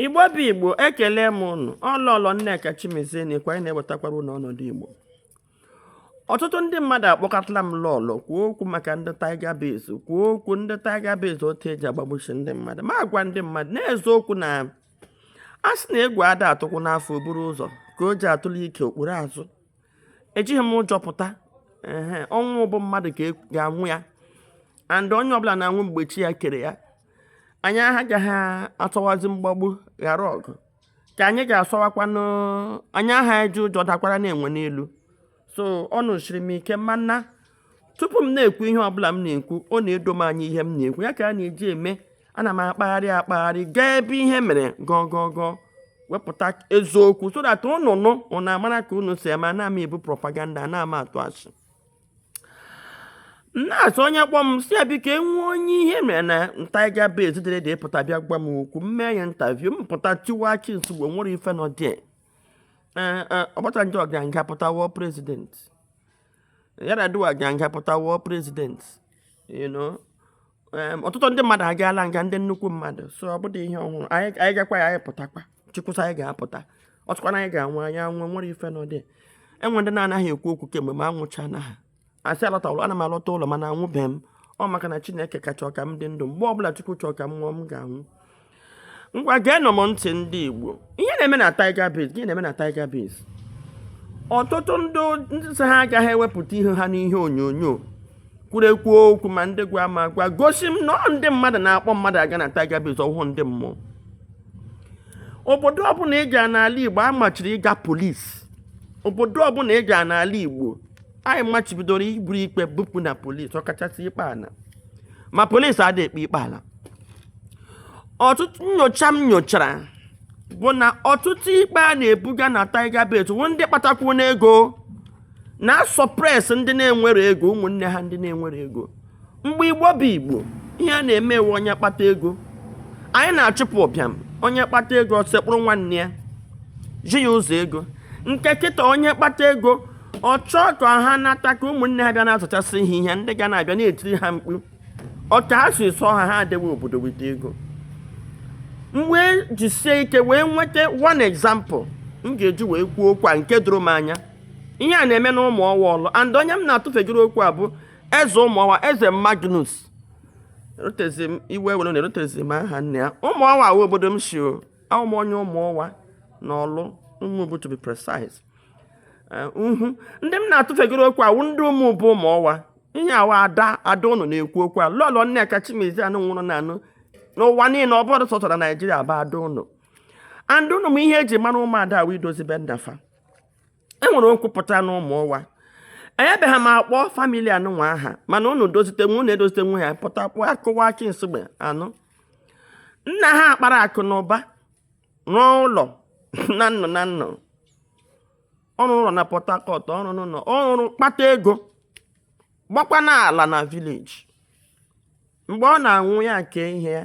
igbo bụ igbo ekele m ụnụ ọ lọlọ nneka chimezie na ịkwanye na-ewetakwara ụnụ ọnọdụ igbo ọtụtụ ndị mmadụ akpọkọtala m lọlọ kwuo okwu maka ndị tiger base kwuo okwu ndị tiger base otu eji agbagbuchi ndị mmadụ m agwa ndị mmadụ n'eziokwu na a sị na egwu ada atụkwanụ afọ o buru ụzọ ka o ji atụle ike o kpuru azụ ejighị m ụjọ pụta ọnwụ bụ mmadụ ka e ga-anwụ ya and onye ọbụla na-anwụ mgbe chi ya kere ya anyị agaghị asọwazi mgbagbu ghara ọgụ ka anyị ga-asọwakwanụ anyị aha eji ụjọ dakwaranụ enwe n'elu so ọnụ siri m ike mana tupu m na-ekwu ihe ọbụla m na-ekwu ọ na-edo m anya ihe m na-ekwu ya ka m na-eji eme ana m akpagharị akpagharị gaa ebe ihe mere gwuo gwuo gwuo wepụta eziokwu so that ụnụ nụ ụnụ amara ka unu si eme ana m ebu propaganda ana m atụ asị na-asị onye kpọọ m sị ya biko e nwee onye ihe mere na tiger base dịrị ndụ pụta bịa gwa m okwu m mee ya interview m pụta tiwa chi nsogbu nwere ife na ọ dị obasanjo gaa nga pụta wụ president yar'adua gaa nga pụta wụ president you know ọtụtụ ndị mmadụ agaala nga ndị nnukwu mmadụ so ọ bụdị ihe ọhụrụ anyị gakwa ya anyị pụtakwa chukwu sị anyị ga-apụta ọ chọkwa na anyị ga-anwụ anyị anwụọ nwere ife na ọ dị e nwe ndị na-anaghị ekwu okwu kemgbe ma anwụcha na ha asị alọta ụlọ ana m alọta ụlọ mana anwụbeghị m ọ maka na chineke ka chọ ka m dị ndụ mgbe ọbụla chukwu chọọ ka m nwụọ m ga-anwụ ngwa geenụ m ntị ndị Igbo ihe na-eme na Tiger Base gịnị na-eme na Tiger Base ọtụtụ ndị ndị sị ha agaghị ewepụta ihu ha n'ihe onyonyo kwuru ekwu okwu ma ndị gwa m agwa gosi m na ọ ndị mmadụ na-akpọ mmadụ aga na Tiger Base ọ wụhụ ndị mmụọ obodo ọbụla ị gara n'ala Igbo amachiri ịga polisi obodo ọbụla ị gara n'ala Igbo anyị machibidoro iburu ikpe bupụ na polisi ọkachasị ikpe ana ma polisi adị ekpe ikpe ala ọtụtụ nyocha m nyochara bụ na ọtụtụ ikpe a na-ebuga na Tiger Base bụ ndị kpatakwanụ ego na-asuppress ndị na-enwere ego ụmụnne ha ndị na-enwere ego mgbe igbo bụ igbo ihe a na-eme wụ onye kpata ego anyị na-achụpụ ụbịam onye kpata ego sekpụrụ nwanne ya zi ya ụzọ ego nke kịta onye kpata ego ọ chọọ ka ha nata ka ụmụnne ha bịa na-azụchasị ihe ihe ndị ga na-abịa na-etiri ha mkpu ọ ka a sị sọ ha ha adịghị obodo weta ego m wee jisie ike wee nweta one example m ga-eji wee kwuo okwu a nke doro m anya ihe a na-eme na ụmụọwa ọlụ and onye m na-atụfegoro okwu a bụ eze ụmụọwa eze magnus erutezi m iwe were na erutezi m aha nne ya ụmụọwa wụ obodo m si o a wụ m onye ụmụọwa na ọlụ ụmụbụ to be precise eh, uhu ndị m na-atụfegoro okwu a wụ ndị ụmụ bụ ụmụ ọwa ihe a wụ ada ada ụnụ na-ekwu okwu a lọlọ nneka chimezie anụ nwụrụ na anụ n'ụwa niile ọ bụrụ sọtara naijiria bụ ada ụnụ and ụnụ ma ihe e ji mara ụmụada wụ idozi be nna fa e nwere okwu pụta na ụmụ ọwa enyebeghị m akpọ family anụnwa aha mana ụnụ dozite nwe ụnụ edozite nwe ya pụta pụọ akụwa akị nsogbu anụ nna ha kpara akụ na ụba rụọ ụlọ na nnọ na nnọ ọ rụọ ụlọ na port harcourt ọ rụọ n'ụlọ ọrụ kpata ego gbakwa n'ala na village mgbe ọ na-anwụ ya kee ihe ya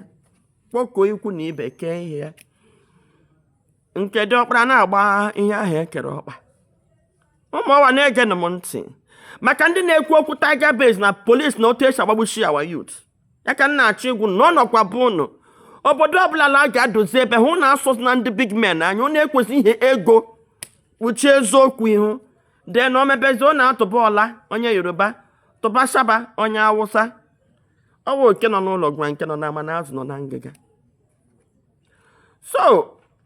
kpọkọọ ikwu na ibe kee ihe ya nke diọkpara na-agba ihe ahụ e kere ọkpa ụmụọwa na-egenụ m ntị maka ndị na-ekwu okwu tiger base na police na otu e si agbagbuchi our youth ya ka m na-achọ ịgwa ụnụ na ọ nọkwa be ụnụ obodo ọbụla na a ga-adozi ebe ụnụ na-asọzi ndị big men anya ụnụ ekwezi ihe ego kpuchie eziokwu ihu dee na omebezi ọ na-atụba ọla onye yoruba tụba shaba onye awụsa ọ wụ oke nọ n'ụlọ gwa nke nọ n'ama na azụ nọ na ngịga so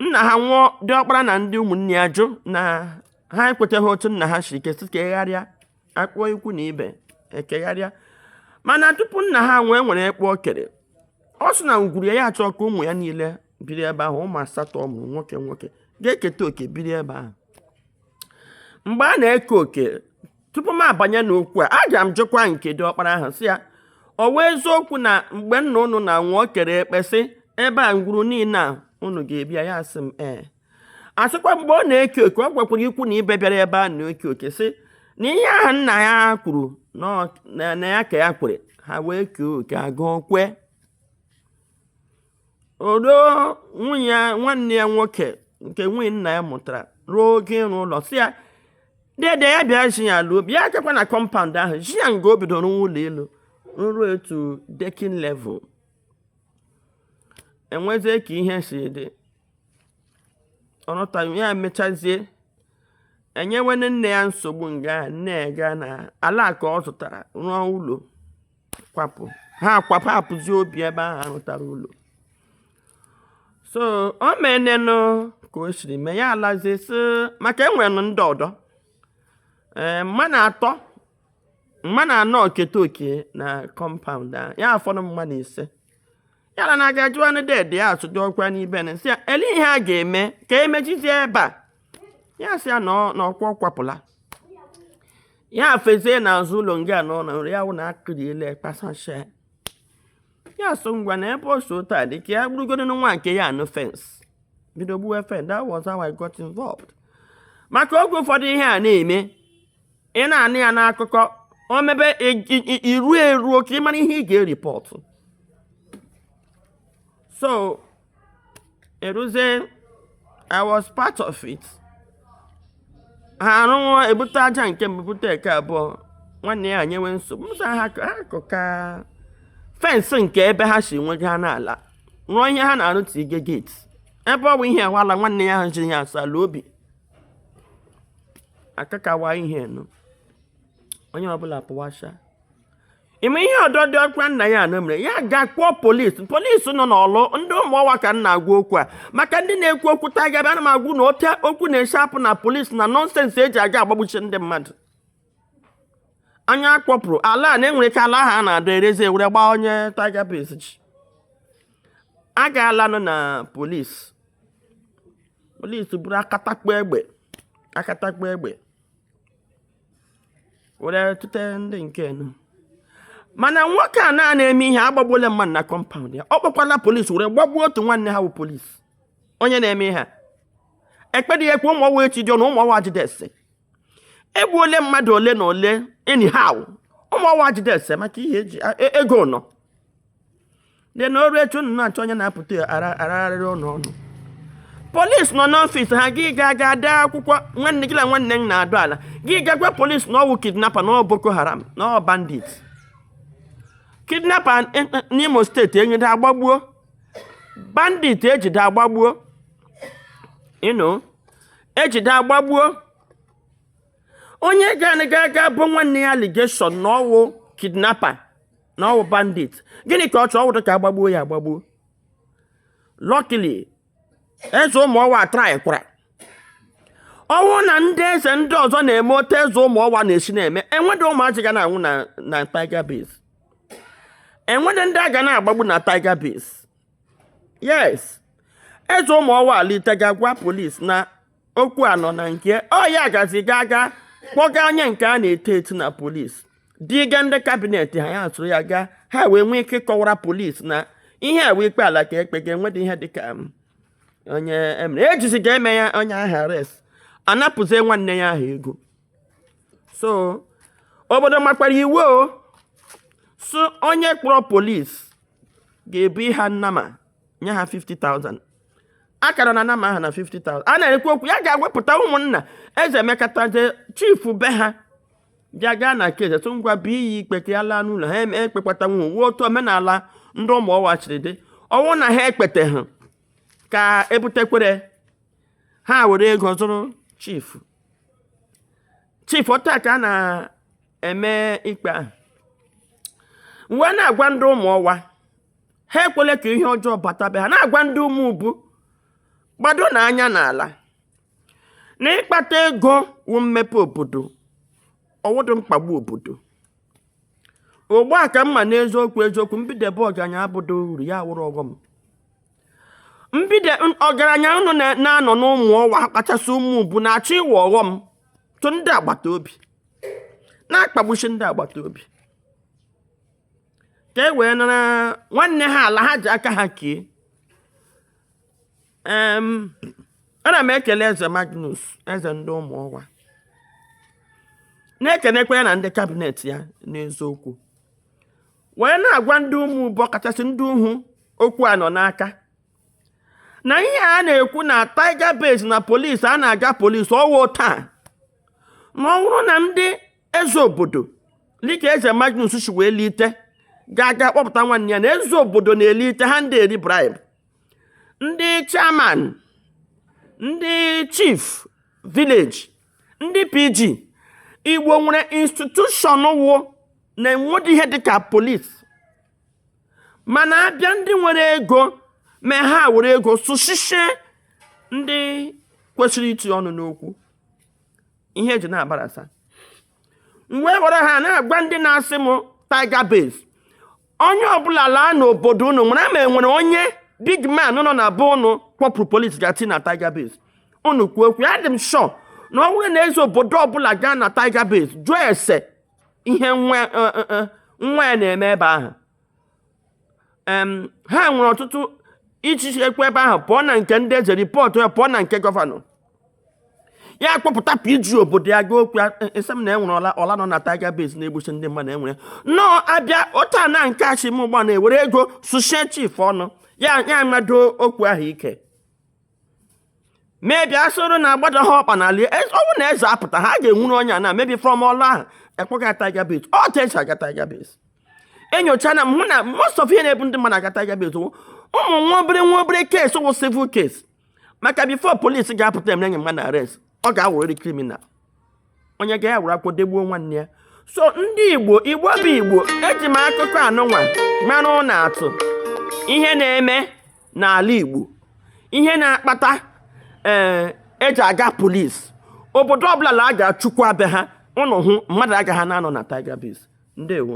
nna ha nwụọ diọkpara na ndị ụmụnne ya jụ na ha ekwechaghị otu nna ha si kee sị ka e kegharịa a kpọọ ikwu na ibe e kegharịa mana tupu nna ha anwụọ e nwere ekpe o kere ọ sị na ngwuru ya ya achọ ka ụmụ ya niile biri ebe ahụ ụmụ asatọ ọ mụrụ nwoke nwoke ga-eketa oke biri ebe ahụ mgbe a na-eke oke tupu m abanye n'okwu a aga m jụkwa nke diọkpara ahụ sị ya ọ wụ eziokwu na mgbe nna ụnụ na-anwụ o kere ekpe sị ebe a ngwuru niile a ụnụ ga-ebi ya ya sị m ee a sịkwa mgbe ọ na-eke oke ọ gwakwara ikwu na ibe bịara ebe a na-eke oke sị na ihe ahụ nna ya kwuru na ọ- na- na ya ka ya kwere ha wee kee oke agụọ kwe ọdọ nwunye ya- nwanne ya nwoke nke nwunye nna ya mụtara ruo oge ịrụ ụlọ sị ya dede ya bịa zi ya ala ọ bịa chekwa na compound ahụ zi ya nga o bidoro rụọ ụlọ elu ruo to decking level e nwezie ka ihe si dị ọ nọta ya emechazie enyewe nwanne ya nsogbu nwanne ya gaa na ala nke ọ zụtara rụọ ụlọ kwapụ ha kwapụ hapụzi obi ebe ahụ a rụtara ụlọ so o menenụ ka o siri mee ya alazie sị maka e nwenụ ndị ọdọ ee mmanụ atọ mmanụ anọ keta oke na compound a ya afọdụ mmanụ ise yala na aga jụọ ndị dede ya ajụjụ ọkwa n'ibe na si ya ele ihe a ga-eme ka emechizie ebe a ya sị ya na ọ- na ọkwa ọkwapụla ya fezie n'azụ ụlọ nga na ụlọ nri ya wụ na akụriele kpasashe ya so ngwa na ebe o so taa dị ka ya gburugodo na nwa nke ya anụ fence bido gbuwe fence that was how I got involved maka oge ụfọdụ ihe a na-eme ị na-anụ ya n'akụkọ o mebe iru eruo ka ị mara ihe ị ga-eripọtụ so eruzie I was part of it ha arụwa ebute aja nke mbụ bute nke abụọ nwanne ya nyewe nsogbu msa ha akụka fence nke ebe ha si nwega ha n'ala rụọ ihe ha na-arụ tige gate ebe ọ bụ ihe awala nwanne ya ha ji ya asala obi akakawa ihe nụ onye ọbụla pụwasha ime ihe ọdọ dị ọkwa nna ya anụ mere ya ga kpọọ polisi polisi nọ n'Ọlụ ndị ụmụọwa ka m na-agwa okwu a maka ndị na-ekwu okwu tiger base ana m agwa unu otu okwu na-esi apụ na polisi na nonsense eji aga agbagbuchi ndị mmadụ anya akpọpụrụ ala a na e nwere ike ala ahụ a na-adọ erezie ewere gbaa onye tiger base ji agaala nọ na polisi polisi buru akatakpo egbe were tụte ndị nke enu mana nwoke anụ na-eme ihe agbagbuola mmadụ na compound ya ọ kpọkwala polisi were gbagbuo otu nwanne ha bụ polisi onye na-eme ihe a ekpedị ya ikpe ụmụọwa echi dị ọnụ ụmụọwa jidesi egbuole mmadụ ole na ole anyhow ụmụọwa jidesie maka ihe eji e, ego nọ dị na oru etu unu na-achọ onye na-apụta aragharịrị ụlọ ọnụ polis nọ n'office ha gị ga ga dee akwụkwọ nwanne gị na nwanne m na-adọ ala gị ga gwa polis na ọwụ kidnapper na ọ boko haram na ọ bandit kidnapper eh, eh, n'imo steeti ejide agbagbuo bandit ejide agbagbuo ịnụ ejide agbagbuo onye ga-anaga aga bụ nwanne ya allegation na ọwụ kidnapper na ọwụ bandit gịnị ka ọ chọọ ọwụdụ ka agbagbuo ya agbagbuo luckily eze ụmụọwa traịkwara ọwụ na ndị eze ndị ọzọ na-eme otu eze ụmụọwa na-esi na-eme enwedị ụmụazị ga na-anwụ na tiger base enwedị ndị a ga na-agbagbu na tiger base yes eze ụmụọwa alite ga-agwa polis na okwu a nọ na nke ọya gazi ga ga kpọga onye nke a na-eti eti na polis duga ndị cabinet ha ya soro ya gaa ha wee nwee ike kọwara polis na ihe a wụ ikpe ala ka ekpega enwedị ihe dịka um, onye emere ejizi ga-eme ya onye ahụ arrest anapụzie nwanne ya ahụ ego so obodo makwara iwu o so onye kpọrọ polis ga-ebu ịha nnama nye ha 50,000 akara na nama ha na 50,000 a na-ekwu okwu ya gaa kpọpụta ụmụnna eze emekataje chifu be ha bịa gaa na nke eze tụ ngwa bụ iyi ikpe ka ya laa n'ụlọ ha ekpekwata nwu wụ otu omenala ndị ụmụọwa siri dị ọ wụ na ha ekpete ha ka ebutekwere ha were ego zụrụ chifu chifu otu a ka a na eme ikpe ahụ m wee na-agwa ndị ụmụọwa ha ekwele ka ihe ọjọọ bata be ha na-agwa ndị ụmụubu gbado na anya n'ala na ịkpata ego wu mmepe obodo ọ wụdụ mkpagbu obodo ogbe a ka mma n'eziokwu eziokwu mbidebe ọgaranya abụdụ uru ya wụrụ ọghọm ndị ọgaranya unu na-anọ n'ụmụọwa kachasị ụmụubu na-achọ ịwụ ọghọm tụ ndị agbata obi na-akpagbusi ndị agbata obi ka e wee nara nwanne ha ala ha ji aka ha kee ana m ekele eze magnus eze ndị ụmụọwa na-ekenekwa ya na ndị kabinet ya n'eziokwu wee na-agwa ndị ụmụubu kachasị ndị ahụ okwu a nọ n'aka na ihe a na-ekwu na tiger base na polisi a na-aga polisi ọ wụ taa na ọ bụrụ na ndị eze obodo dịka eze magnus si wee lite ga-aga kpọpụta nwanne ya na eze obodo na-elite ha ndị eri bribe ndị chairman ndị chief village ndị pg igbo nwere institution wụ na enwedị ihe dịka polisi mana abịa ndị nwere ego mee ha were ego sushisie ndị kwesịrị iti ọnụ n'okwu ihe eji na-abarasa mgbe e gwara ha na-agwa ndị na-asị m tiger base onye ọbụla laa n'obodo unu mara ma enwere onye big man nọ na be unu kpọpụrụ polisi gati na tiger base unu kwuo okwu adị m sure na ọ bụrụ na eze obodo ọbụla gaa na tiger base jụọ ese ihe nwa e, e, e, nwa ya na-eme ebe ahụ ha were ụtụtụ ichichi ekwe ebe ahụ pụọ na nke ndị eze ripọtụ ya pụọ na nke gọvanọ ya kpọpụta pg obodo ya gaa okwu esi m na enwere ọla ọla nọ na tiger base na-egbusi ndị mmadụ enwere nnọọ abịa otu a na nke asị m ugbu a na e were ego sushie chief ọnụ ya ya mado okwu ahụ ike maybe a sịrị na agbado ha ọkpa n'ala ọ wụ na eze apụta ha ga-ewuru onye a na maybe from ọlụ ahụ akpọga tiger base otu esi aga tiger base enyochaala m na most of ihe na-ebu ndị mmadụ aga tiger base ụmụ nwa obere nwa obere case wụ civil case maka before polisi ga-apụta emere nye mmadụ arrest ọ ga-awụrịrị criminal onye ga-ewere akwụkwọ degbuo nwanne ya so ndị igbo igbo bụ igbo eji m akụkọ anụnwa mara ụnụ atụ ihe na-eme n'ala igbo ihe na-akpata ee eh, eji aga polis obodo ọbụla na a ga-achụkwa be ha ụnụ hụ mmadụ agaghị na-anọ na Tiger Base ndewo